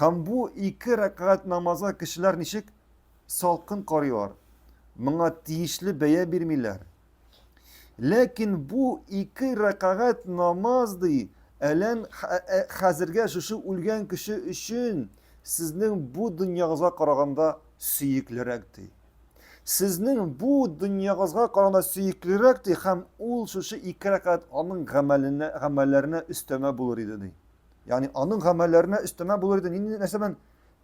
Һәм бу ике рәкәгать намазга кешеләр ничек салкын карыйлар, моңа тиешле бәя бирмиләр. Ләкин бу ике рәкәгать намаз ди, әлән хәзергә шушы үлгән кеше өчен сезнең бу дөньягызга караганда сөеклерәк ди. Сезнең бу дөньягызга караганда сөеклерәк ди һәм ул шушы ике рәкәгать аның гамәленә, гамәлләренә өстәмә булыр иде ди. Ягъни аның гамәлләренә өстәмә булыр иде нинди нәрсә белән?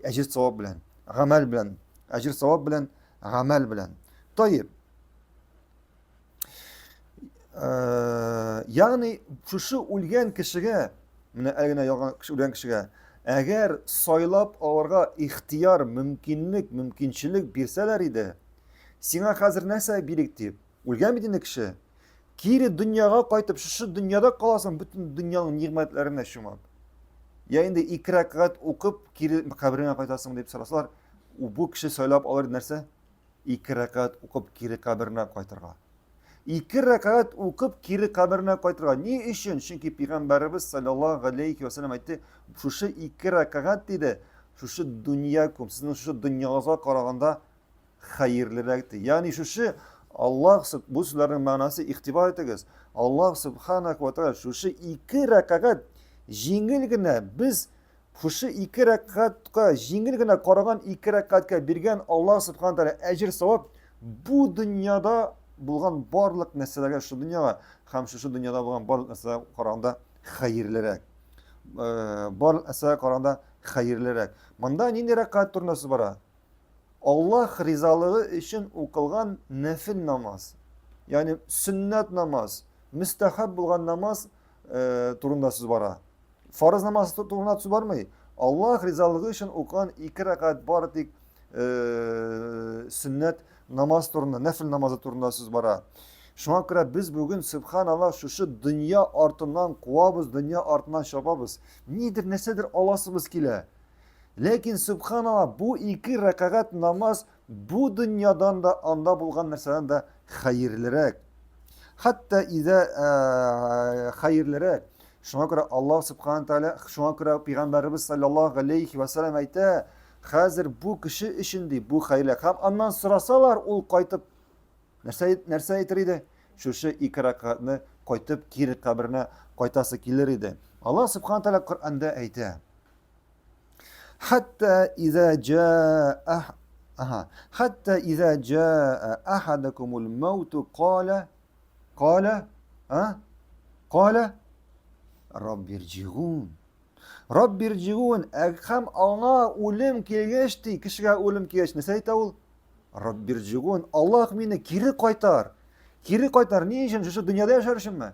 Әҗир савап белән, гамәл белән. Әҗир савап белән, гамәл белән. Таеп. Э, ягъни шушы үлгән кешегә, менә әлегенә яган кеше үлгән кешегә, әгәр сайлап алырга ихтияр, мөмкинлек, мөмкинчелек бирсәләр иде, сиңа хәзер нәрсә бирик дип, Үлгән бит инде кеше. Кире дөньяга кайтып, шушы дөньяда каласың, бөтен дөньяның нигъмәтләренә чумып. Я инде ике рәкъгәт укып, кире кабереңә кайтасың дип сорасалар, бу кеше сайлап алыр нәрсә? Ике рәкъгәт укып, кире каберенә кайтырга. Ике рәкъгәт укып, кире каберенә кайтырга. Ни өчен? Чөнки пигамбәребез саллаллаһу алейхи ва саллям әйтте, шушы ике рәкъгәт диде, шушы дөньякум, сезнең шушы дөньягызга караганда хәерлерәктер. Ягъни шушы Аллаһ сүб бу сүзләрнең мәгънәсе игътибар итегез. Аллаһ субханак ва тааля шушы ике рәкагать җиңел генә без шушы ике рәкагатька җиңел генә караган ике рәкагатькә биргән Аллаһ субхана тааля әҗер савап бу дөньяда булган барлык нәрсәләргә шушы дөньяга һәм шушы дөньяда булган барлык нәрсәләргә караганда хәерлерәк. Э, барлык нәрсәгә караганда хәерлерәк. Монда нинди рәкагать турында сүз бара? Аллаһ ризалыгы өчен укылган нәфел намаз, ягъни сөннәт намаз, мөстәхәб булган намаз э, турында сүз бара. Фарыз намазы турында сүз бармый. Аллаһ ризалыгы өчен укыган ике рәкәт бары тик э, сөннәт намаз турында, нәфел намазы турында сүз бара. Шуңа күрә без бүген субханала шушы дөнья артыннан куабыз, дөнья артыннан чабабыз. Нидер нәрсәдер аласыбыз килә. Ләкин, субханалла, бу ике рәкәгать намаз бу дөньядан да, анда булган нәрсәдән дә хәерлерәк. Хәтта изә э, хәерлерәк. Шуңа күрә Аллаһ субхана тәгалә, шуңа күрә пәйгамбәребез саллаллаһу алейхи ва саллям әйтә, хәзер бу кеше өчен ди бу хәйлә. Һәм аннан сорасалар, ул кайтып нәрсә нәрсә әйтер иде? Шушы ике рәкатны кайтып кире каберенә кайтасы килер иде. Аллаһ субхана тәгалә Коръәндә әйтә. Хәтта иза джаа Ага. Хәтта иза джаа ахадакумул мауту кала кала а кала Раббирджигун. Раббирджигун һәм аңа үлем килгәч ди, кешегә үлем килгәч нәрсә әйтә ул? Раббирджигун, Аллаһ мине кире кайтар. Кире кайтар ни өчен? Шушы дөньяда яшәр өченме?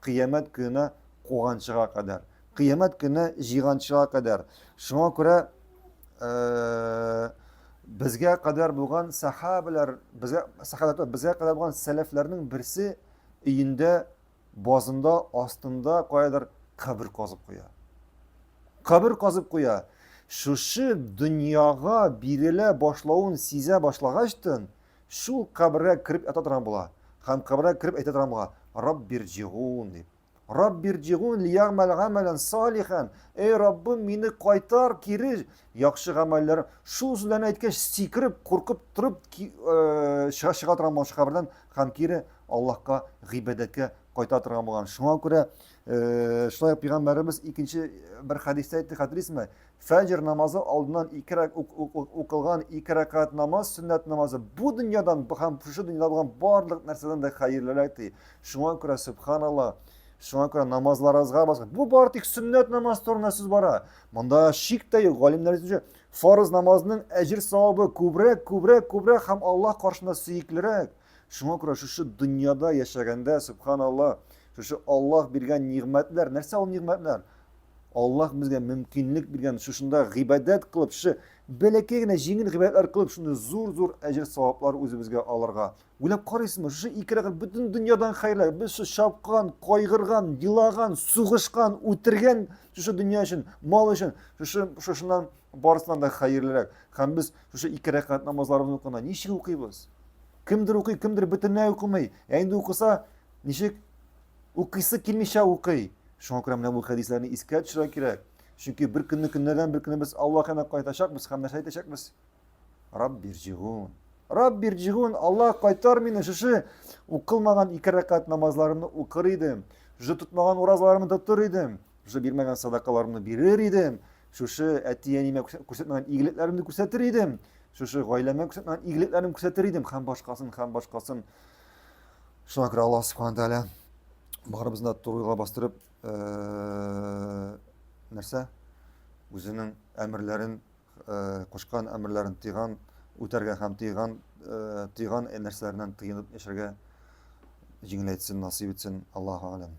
кыямәт көненә куганчыга кадәр. Кыямәт көненә җыйганчыга кадәр. Шуңа күрә безгә кадәр булган сахабалар, безгә сахабалар, безгә кадәр булган сәләфләрнең берсе өендә базында, астында каядыр кабер казып куя. Кабер казып куя. Шушы дөньяга бирелә башлавын сизә башлагачтын, Шул кабергә кереп ята торган була һәм кабергә кереп әйтә торган була, Раббирҗигун дип. Раббирҗигун лиягмәл гамәлән салихан. Эй Раббым, мине кайтар кире яхшы гамәлләр. Шул сүзләрне әйткәч, сикереп, куркып торып э, чыга чыга торган булган кабердән һәм кире Аллаһка гыйбадәткә кайта торган булган. Шуңа күрә Э, шулай ук пәйгамбәребез икенче э, бер хәдистә әйтте хәтерисезме фәҗр намазы алдыннан ике укылган ике рәкәт намаз сөннәт намазы бу дөньядан һәм шушы дөньяда булган барлык нәрсәдән дә хәерлерәк ди шуңа күрә сөбханалла шуңа күрә намазларыгызга басып бу бары тик сөннәт намаз турында сүз бара монда шик тә юк галимнәр фарыз намазның әҗер савабы күбрәк күбрәк күбрәк һәм аллаһ каршында сөеклерәк Шуңа күрә шушы дөньяда яшәгәндә, сөбханаллаһ, шушы Аллаһ биргән нигъмәтләр, нәрсә ул нигъмәтләр? Аллаһ безгә мөмкинлек биргән, шушында гыйбадәт кылып, шушы бәләкәй генә җиңел гыйбадәтләр кылып, шундый зур-зур әҗер-саваплар үзебезгә алырга. Уйлап карыйсызмы, шушы ике рәкать бөтен дөньядан хәерлерәк. Без шушы чапкан, кайгырган, елаган, сугышкан, үтергән шушы дөнья өчен, мал өчен, шушы шушыннан барысыннан да хәерлерәк. Һәм без шушы ике рәкәт намазларыбызны укыганда ничек укыйбыз? Кемдер укый, кемдер бөтенләй укымый. Ә инде укыса, ничек укыйсы килмичә укый. Шуңа күрә менә бу хәдисләрне искә төшерә кирәк. Чөнки бер көнне көннәрдән бер көнне без Аллаһ янына кайтачакбыз һәм нәрсә әйтәчәкбез? Раббирҗигун. Раббирҗигун, Аллаһ кайтар мине, шушы укылмаган ике рәкәт намазларымны укыр идем, шушы тотмаган уразаларымны тотыр идем, шушы бирмәгән садакаларымны бирер идем, Шушы әти-әниемә күрсәтмәгән игелекләремне күрсәтер идем. Шушы гаиләмә күрсәтмәгән игелекләрен күрсәтер идем һәм башкасын, һәм башкасын. Шуңа күрә Аллаһ Субхану тәгалә барыбызны да турыга бастырып, э, нәрсә? Үзенең әмерләрен, э, кушкан әмерләрен тыйган, үтәргә һәм тыйган, э, тыйган нәрсәләреннән тыйынып яшәргә җиңеләйтсен, насыйп итсен. Аллаһу алем.